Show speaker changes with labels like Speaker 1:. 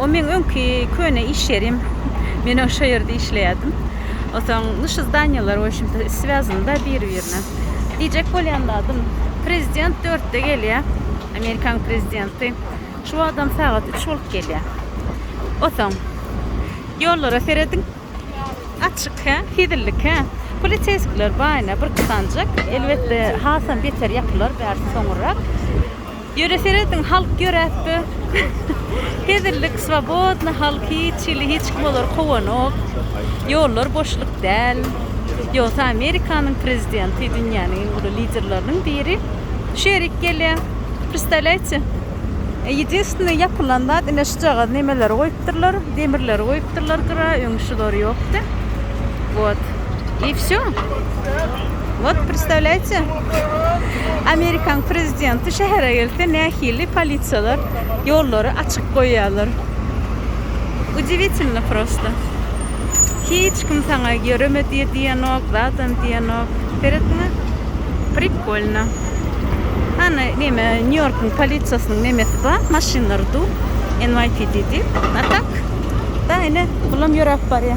Speaker 1: O meň öňki köne iş ýerim. Men o şo ýerde işleýärdim. Osaň nyş zdanýalar we şunta swýazynda biri-birine. Diýjek bolýan zadym, prezident dörtde gelýär, Amerikanyň prezidenti. Şu wagtam sagat üç bolup gelýär. Osaň ýollara serediň. Açyk, hä? Hezillik, hä? Poliseýskiler baýna bir kysanjak. Elbetde, hasam beter ýapylar bärsi soňurrak. Ýöne serediň halk ýöräpdi. Hezillik swobodny halk hiç hili hiç kim olary kowanok. Ýollar boşluk däl. Ýogsa Amerikanyň prezidenti dünýäniň iň uly liderleriniň biri şu ýerik gelýä. Predstavlýaýtçe. Ýedinstwnny ýapylan zat ine şujagaz nemeleri goýupdyrlar, demirleri goýupdyrlar gyra öň şulary ýokdy. Wot. I wsýo. Wot predstavlýaýtçe. Amerikan prezidenti şähere gelse nähili polisiýalar ýollary açyk goýýarlar. Udiwitilno prosta. Hiç kim saňa ýöreme diýe diýenok, zadan diýenok. Seretdiňä? Prikolno. Hany näme Nýu-Ýorkuň polisiýasynyň nämesi bar, maşynlary du, NYPD diýip. A tak, da ine bulam ýöräp barýa.